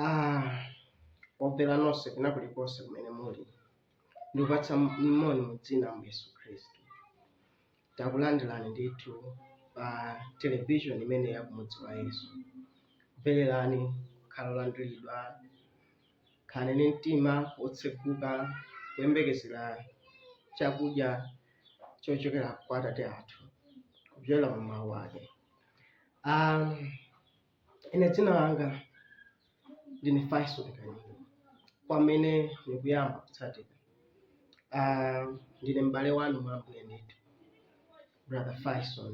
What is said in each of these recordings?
Ah, omvera nonse kwina kulikonse kumene muli ndikupatsa moni mu dzina la yesu khristu takulandirani ndithu pa television imeneyi ya kumudzi wa yesu mvererani kukhala olandiridwa khalani ndi mtima wotseguka kuyembekezera chakudya chochokera kwa atate athu kudzera mu mawu ake um, Ine dzina langa ndine Faison Kanyama, kwa amene mukuyamba kutsatira. Ah, ndine m'bale wanu mwa Ambuye ndithu, brother Faison.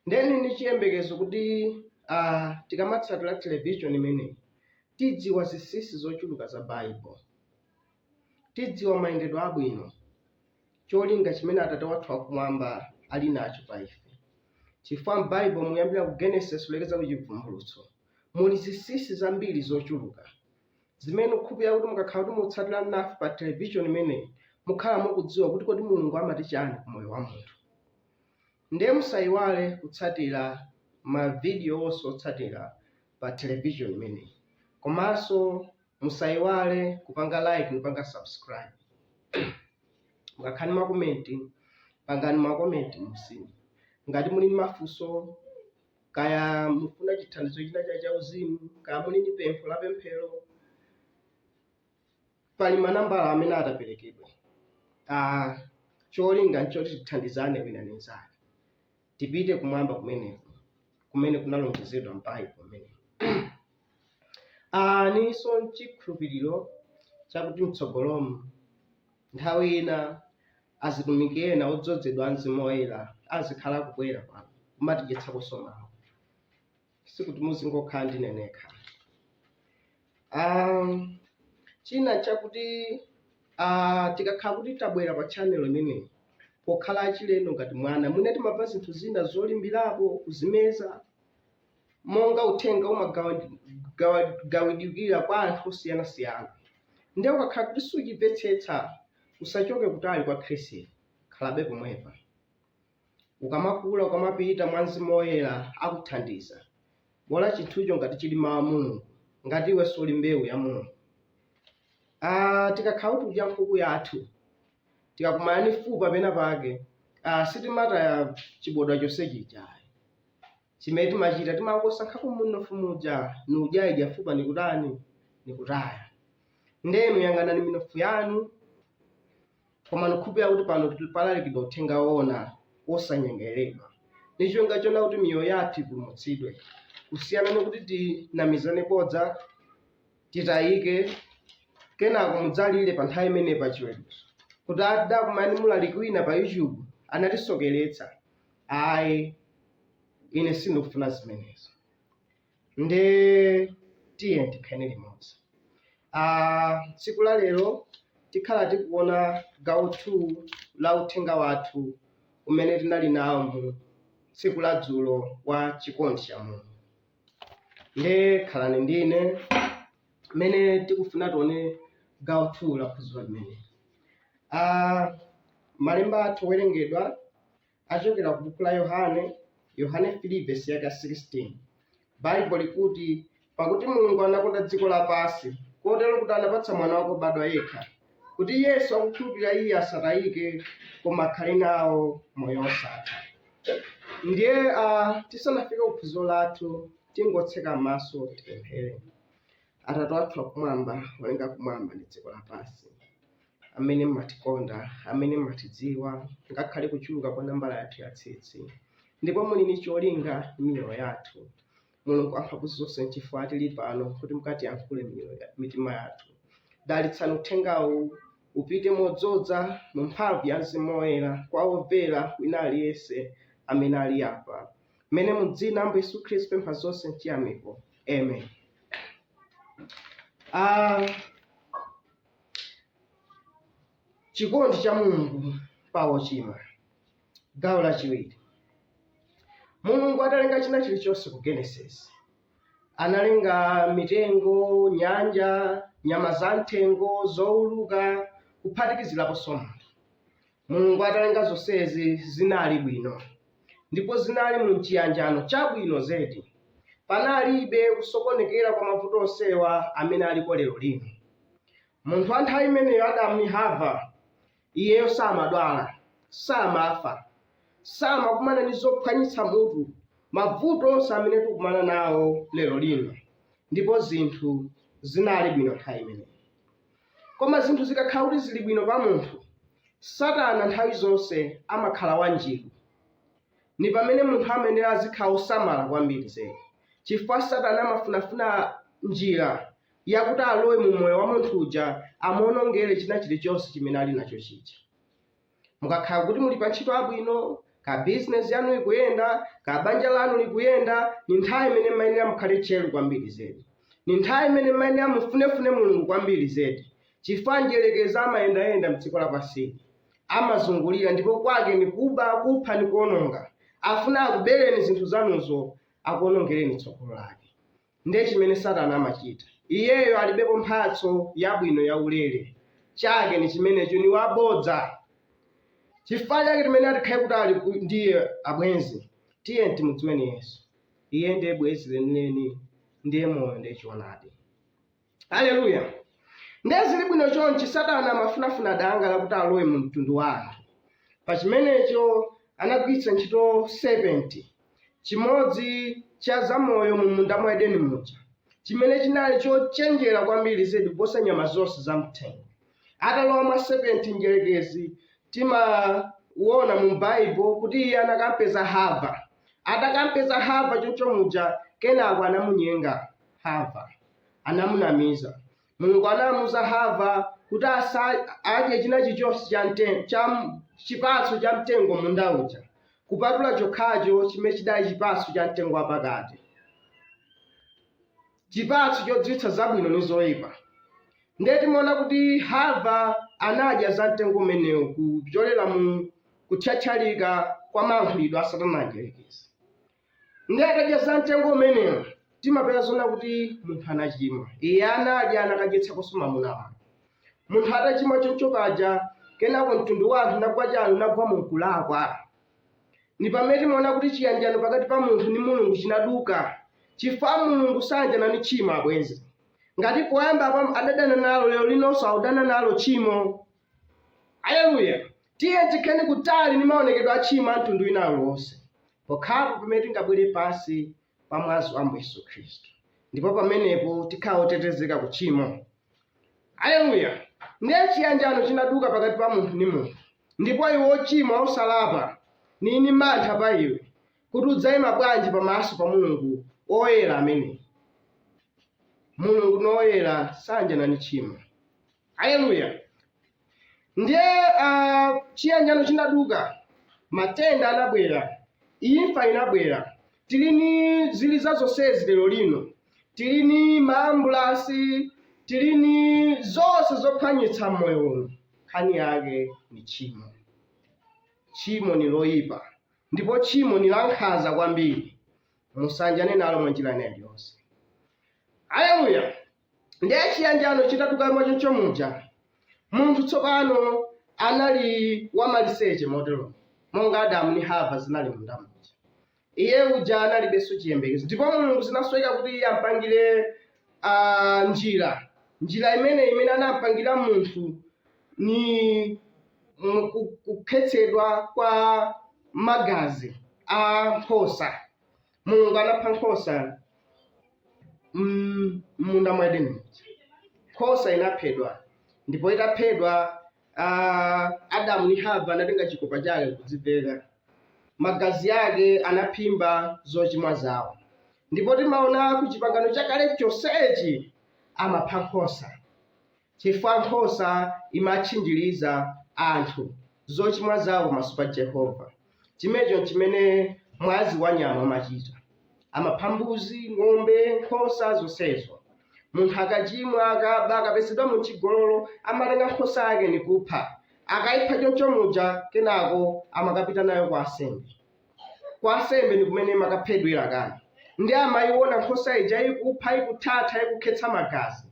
Nde ndili ndi chiyembekezo kuti ah, tikamatsatira television imeneyi tidziwa zinsinsi zochuluka za Bible, tidziwa mayendedwe abwino cholinga chimene Atate wathu wakumwamba ali nacho pa ife. Chifukwa m'Baibo kuyambira ku Genesis kulekeza ku Chivumbulutso, muli zinsinsi zambiri zochuluka zimene nukhupira kuti mukakhala kuti mutsatira nafe pa television imeneyi, mukhala mukudziwa kuti kodi Mulungu amati chani ku moyo wa munthu. Ndiye musaiwale kutsatira ma video onse otsatira pa television imeneyi. Komanso musaiwale kupanga like kupanga subscribe ngakhale makomenti pangani makomenti m'munsimu ngati muli ndi mafunso kaya mufuna chithandizo china chake chauzimu kaya muli ndi pempho la pemphero pali manambala amene ataperekedwe ah, cholinga nchoti tithandizane wina ndi mnzake tipite kumwamba kumeneko kumene kunalonjezedwa m'Baibulo kumeneko. Ah ndilinso n'chikhulupiriro chakuti m'tsogolomu nthawi ina azitumiki ena odzozedwa a Mzimu Woyera azikhala akubwera pano kumatidyetsakonso mawu. sikuti muzingokhala ndine nekha um, china chakuti uh, tikakhala kuti tabwera pa channel imeneyi pokhala achilendo ngati mwana mwina timamva zinthu zina zolimbirapo kuzimeza monga uthenga umagawidwira kwa anthu osiyanasiyana ndiye ukakhala kuti sukuchimvetsetsa usachoke kutali kwa khristu khalabe pomwepa Ukamakula, ukamapita mwa Mzimu Woyera akuthandiza. Bola chinthucho ngati chili Mawu a Mulungu, ngati iweso uli mbewu ya Mulungu. Ah, tikakhala kuti tikudya nkhuku yathu, tikakumana ndi fupa pena pake, ah, sitimataya chibodwa chonse chija ayi. Chimene timachita timangosankhako munofu muja, n'kudya ija fupa nikutani, nikutaya. Nde inu yang'anani minofu yanu, koma ndikukhulupirira kuti pano palalikidwa uthenga woona wosanyengerera ndi cholinga chona kuti miyoyo yathu ipulumutsidwe kusiyana ndi kuti tinamizane bodza titayike kenako mudzalire pa nthawi imene pa chiweruzo kuti ah tidakumana mulaliki wina pa youtube anatisokeretsa ayi ine sindikufuna zimenezo nde tiye tikhale limodzi Ah, tsiku la lero tikhala tikuona gawo 2 la uthenga wathu umene tinali nawo mu tsiku la dzulo wa chikondi cha mulungu nde khalani ndine mmene tikufuna tione gawo 2 la phunziro limeneli Ah, malemba athu owerengedwa achokera ku buku la Yohane, Yohane 3 vesi yake 16. Baibulo likuti, pakuti Mulungu anakonda dziko lapansi, kotero kuti anapatsa mwana wake wobadwa yekha, kuti yense wokhulupirira iye asatayike, koma akhale nawo moyo wosatha. Ndiye ah, tisanafike ku phunziro lathu, tingotseka m'maso tipemphere. Atate athu akumwamba, olenga kumwamba ndi dziko lapansi. amene mmatikonda, amene mmatidziwa, ngakhale kuchuluka kwa nambala yathu ya tsitsi, ndipo muli ndi cholinga m'miyoyo yathu. Mulungu amphamvu zonse, nchifukwa tili pano kuti mukatiyankhule m'mitima yathu. Dalitsani uthengawu upite modzodza mu mphamvu ya Mzimu Woyera kwa womvera wina aliyense amene ali apa, mmene mu dzina la Ambuye Yesu Khristu tapempha zonse n'chiyamiko. Amen. Uh, Chikondi cha Mulungu pa ochimwa. Gawo lachiwiri. Mulungu atalenga china chilichonse ku Genesis, analenga mitengo, nyanja, nyama za m'thengo, zouluka, kuphatikiziraponso munthu. Mulungu atalenga zonsezi zinali bwino ndipo zinali mu chiyanjano chabwino zedi. Panalibe kusokonekera kwa mavuto onsewa amene aliko lero lino. Munthu wa nthawi imeneyo, Adamu ndi Hava, iyeyo samadwala, samafa, samakumana ndi zophwanyitsa mutu, mavuto onse amene tikukumana nawo lero lino, ndipo zinthu zinali bwino nthawi imeneyo. Koma zinthu zikakhala kuti zili bwino pa munthu, Satana nthawi zonse amakhala wanjiru. Ndi pamene munthu amayenela azikhala wosamala kwambiri zedi, chifukwa Satana amafuna-funa njira yakuti alowe mu moyo wa munthu uja, amuwonongere china chilichonse chimene ali nacho chija. Mukakhala kuti muli pantchito yabwino, ka business yanu ikuyenda, ka banja lanu likuyenda, ni nthawi imene mmayenera mukhale tcheru kwambiri zedi. Ni nthawi imene mmayenera mufunefune Mulungu kwambiri zedi, chifukwa mdyerekezi amayendayenda mdziko lapansili. Amazungulira ndipo kwake ni kuba, kupha ndi kuononga. Afuna akubereni zinthu zanuzo, akuonongereni tsogolo lake. Ndiye chimene Satana amachita. Iyeyo alibepo mphatso yabwino yaulere. Chake ni chimenecho, ni wabodza. Chifukwa chake timayenera tikhale kutali ku- ndi iye, abwenzi. Tiyeni timudziweni Yesu. Iye ndiye bwenzi lenileni, ndiye moyo, ndiye choonadi. Aleluya! Ndiye zili bwino chonchi, Satana amafunafuna danga lakuti alowe mu mtundu wa anthu. Pa chimenecho anagwiritsa ntchito serpenti, chimodzi cha zamoyo mu munda mwa Edeni muja, chimene chinali chochenjera kwambiri zedi kuposa nyama zonse za mthengo. Atalowa mwa serpenti mdyerekezi, timawona mu Baibulo kuti iye anakampeza Hava. Atakampeza Hava choncho muja, kenako anamunyenga Hava. anamunamiza. Mulungu anamuza Hava kuti asa- adye china chilichonse cha mte- cha m- chipatso cha mtengo munda uja kupatula chokhacho chimene chidali chipatso cha mtengo wapakati chipatso chodziwitsa zabwino ndi zoyipa ndiye timaona kuti hava anadya za mtengo umenewu kupyolera mu kuthyathyalika kwa mayankhulidwe a satana mdyerekezi Ndiye atadya za mtengo umenewo timapeza zona kuti munthu anachimwa. Iye anadya anakadyetsakonso mamuna wake. Munthu atachimwa choncho paja kenako mtundu wa anthu nagwa choncho nagwa mu kulakwa. Ndi pamene timaona kuti chiyanjano pakati pa munthu ndi Mulungu chinaduka chifukwa Mulungu sayanjana ndi tchimo abwenzi. Ngati poyamba apa adadana nalo lero linonso akudana nalo tchimo. Aleluya! Tiyeni tikhale kutali ndi maonekedwe a tchimo a mtundu wina uliwonse, pokhapo pamene tingabwere pansi pa mwazi wa Ambuye Yesu Khristu, ndipo pamenepo tikhala otetezeka ku tchimo. Aleluya! Ndiye chiyanjano chinaduka pakati pa munthu ndi munthu, ndipo iwe wochimwa wosalapa, nili ndi mantha pa iwe, kuti udzaima bwanji pamaso pa Mulungu woyera ameneyu. Mulungu ni woyera, sanjana ndi tchimo. Aleluya. Ndiye ah, chiyanjano chinaduka, matenda anabwera, imfa inabwera. Tili ni ziliza zonsezi lero lino, tili ni maambulasi, tili ni zonse zophwanyitsa moyo uno. Nkhani yake ni tchimo. Tchimo ni loyipa ndipo tchimo ni lankhanza kwambiri, musanjane nalo mwanjira ina iliyonse. Aleluya. Ndiye chiyanjano chitaduka mwachoncho muja, munthu tsopano anali wamaliseche motero monga Adamu ndi Hava zinali munda muja. Iye uja analibenso chiyembekezo, ndipo Mulungu zinasoweka kuti iye ampangire ah, njira njira imene imene anampangira munthu ni mu- ku- kukhetsedwa kwa magazi a nkhosa mulungu anapha nkhosa mm, m'munda mwa edeni muja nkhosa inaphedwa ndipo itaphedwa ah, adamu ndi hava anatenga chikopa chake kudziveka magazi yake anaphimba zochimwa zawo ndipo timaona ku chipangano chakale chonsechi amapha nkhosa Chifukwa nkhosa imatchinjiriza anthu zochimwa zawo pamaso pa Jehovah. Chimenecho nchimene mwazi wa nyama umachita. Amapha mbuzi, ng'ombe, nkhosa, zonsezo. Munthu akachimwa, akaba, akapezedwa mu chigololo, amatenga nkhosa yake ni kupha. Akaipha choncho muja, kenako amakapita nayo kwa ansembe. Kwa ansembe ni kumene imakaphedwera, kani. Ndiye amaiona nkhosa ija ikufa, ikuthatha, ikukhetsa magazi.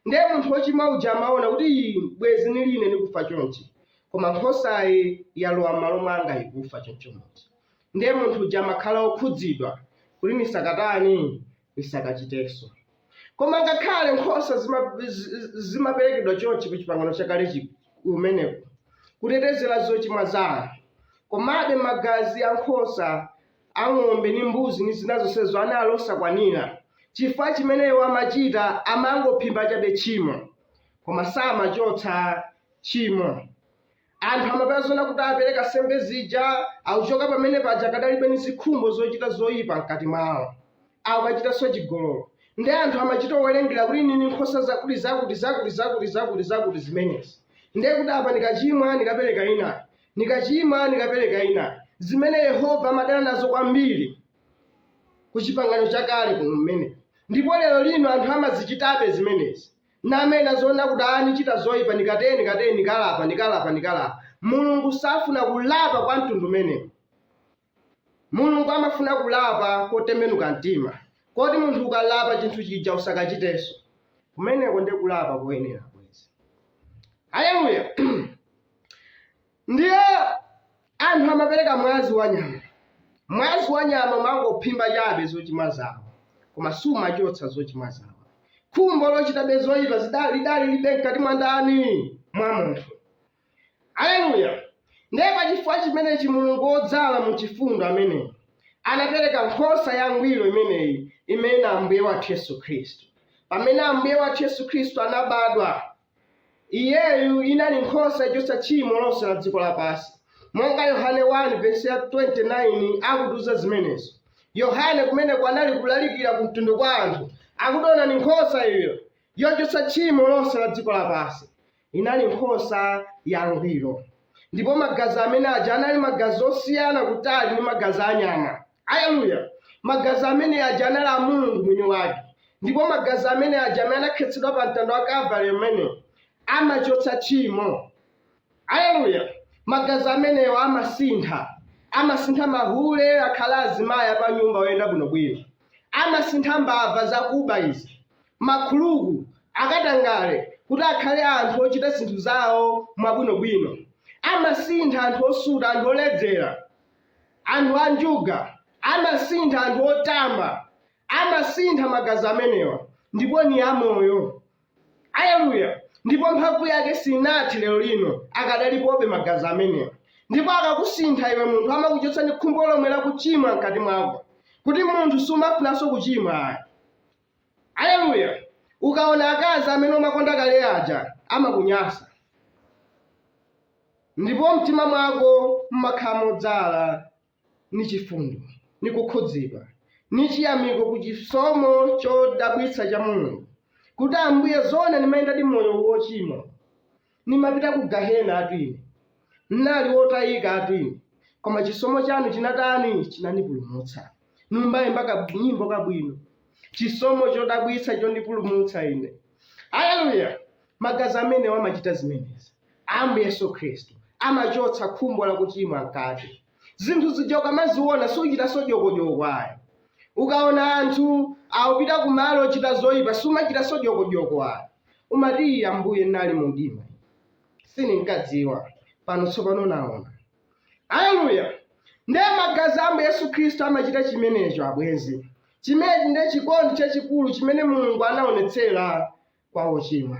ndiye munthu wochimwa uja amaona kuti ii bwezi nili ine nikufa chonchi koma nkhosayi yalowa m'malo mwanga ikufa choncho muja ndiye munthu uja amakhala okhudzidwa kuti nisakatani nisakachitenso koma ngakhale nkhosa zima- zi- zi- zimaperekedwa chonchi ku chipangano chakale chi- kumeneko kutetezera zochimwa za anthu komabe magazi a nkhosa a ng'ombe ndi mbuzi ndi zina zonsezo anali osakwanira chifukwa chimene iwo amachita amangophimba chabe tchimo koma samachotsa tchimo anthu amapezeka oona kuti apereka nsembe zija akuchoka pamene paja akadalibe ni zikhumbo zochita zoyipa mkati mwawo akukachitanso chigololo ndiye anthu amachita owerengera kuti nili ni nkhosa zakuti zakuti zakuti zakuti zakuti zakuti zimenezi ndiye kuti apa nikachimwa ndikapereka inayo Nikacimwa, nikapeleka inayo. Zimene Yehova amadana nazo kwambili ku Cipangano Cakale kumene, ndipo lelo lino anthu amazicitabe zimenezi. Namena zoona kuti aa nicita zoipa, nikate, nikateni, nikalapa, nikalapa, nikalapa. Mulungu safuna kulapa kwa mtundu umenewu. Mulungu amafuna kulapa kotembenuka mtima, koti munthu ukalapa chinthu chija usakachitenso. Kumeneko ndiye kulapa koyenera, bwenzi. Aleluya! Ndiye anthu amapereka mwazi wa nyama. Mwazi wa nyama umangophimba chabe zochimwa zawo, koma sumachotsa zochimwa zawo. Khumbo lochitabe zoyipa zi- lidali lilibe mkati mwa ndani? Mwa munthu. Aleluya! Ndiye pa chifukwa chimenechi Mulungu wodzala mu chifundo ameneyu anapereka nkhosa yangwiro imeneyi imene na Ambuye wathu Yesu Khristu. Pamene Ambuye wathu Yesu Khristu anabadwa, iyeyu inali nkhosa yochotsa tchimo lonse la dziko lapansi, monga Yohane 1 vesi ya 29 akutiuza zimenezo. Yohane kumeneko anali kulalikira ku mtundu kwa anthu, akuti onani nkhosa iyo yochotsa tchimo lonse la dziko lapansi. inali nkhosa yangwiro. Ndipo magazi amene aja anali magazi osiyana kutali ndi magazi a nyama. Aleluya! Magazi amene aja anali a Mulungu mwini wake. Ndipo magazi amene aja amene anakhetsedwa pa mtanda wa Kalvari amenewo amachotsa tchimo. Aleluya! Magazi amenewa amasintha. Amasintha mahule akhala azimayi apanyumba oyenda bwinobwino. Amasintha mbava zakuba izi. makhuluku, akatangale kuti akhale anthu ochita zinthu zawo mwabwinobwino. Amasintha anthu osuta, anthu oledzera, anthu a njuga, amasintha anthu otamba, amasintha magazi amenewa, ndipo ni amoyo. Aleluya! Ndipo mphamvu yake sinathe lero lino, akadalipobe magazi amenewa. Ndipo akakusintha iwe munthu, amakuchotsa ni khumbo lomwe lakuchimwa mkati mwako, kuti munthu sumafunanso kuchimwa. Aleluya! Ukaona akazi amene umakonda kale aja amakunyasa, ndipo mtima mwako mmakhala modzala ni chifundo, ni kukhudzidwa, ni chiyamiko ku chisomo chodabwitsa cha Mulungu, kuti Ambuye zoona nimayendadi moyo wochimwa, Nimapita ku gahenatu ine. N'nali wotayikatu ine, koma chisomo chanu chinatani? Chinanipulumutsa. N'kumayimba kanyimbo kabwino, Chisomo chodabwitsa chondipulumutsa ine. Haleluya! Magazi amenewo amachita zimenezi. Ambuye Yesu Khristu amachotsa khumbo la kuchimwa mkati. Zinthu zija ukamaziona suchitanso dyokodyoko ayi. Ukaona anthu akupita kumalo ochita zoyipa sumachitanso dyokodyoko ayi. Umati, Ambuye, n'nali mu mdima, sininkadziwa, pano tsopano naona. Aleluya! Ndiye magazi a Ambuye Yesu Khristu amachita chimenecho, abwenzi. Chimenechi ndiye chikondi chachikulu chimene Mulungu anaonetsera kwa ochimwa.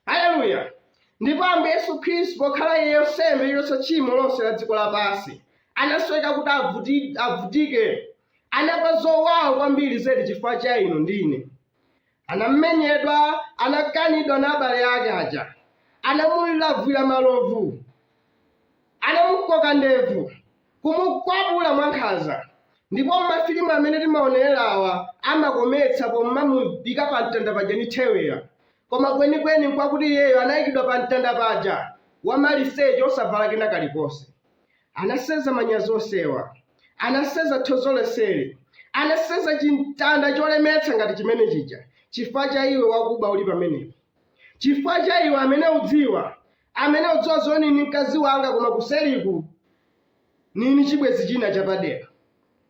Aleluya! Ndipo Ambuye Yesu Khristu, pokhala Iye nsembe yochotsa tchimo lonse la dziko lapansi, anasoweka kuti avutike, anamva zowawa kwambiri zedi chifukwa cha inu ndi ine. anamenyedwa anakanidwa na abale ake aja anamulavwira malovu anamukoka ndevu kumukwapula mwankhanza ndipo mafilimu amene timaonerawa amakometsa pomwe amamuyika pa mtanda paja ni thewera koma kwenikweni nkwakuti iyeyo anayikidwa pa mtanda paja wamaliseche osavala kena kalikonse anasenza manyazi onsewa anasenza tonzo lonseli anasenza chimtanda cholemetsa ngati chimene chija chifukwa cha iwe wakuba uli pamenepo chifukwa cha iwe amene udziwa amene udziwa zoni ni mkazi wanga koma kuseliku ni ni chibwezi china chapadera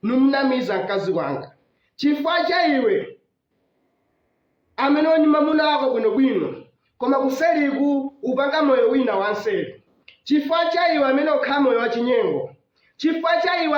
nimunamiza mkazi wanga chifukwa cha iwe amene u ni mamuna wako bwino bwino koma kuseliku upanga moyo wina wanseli chifukwa cha iwe amene ukhala moyo wachinyengo chifukwa cha iwe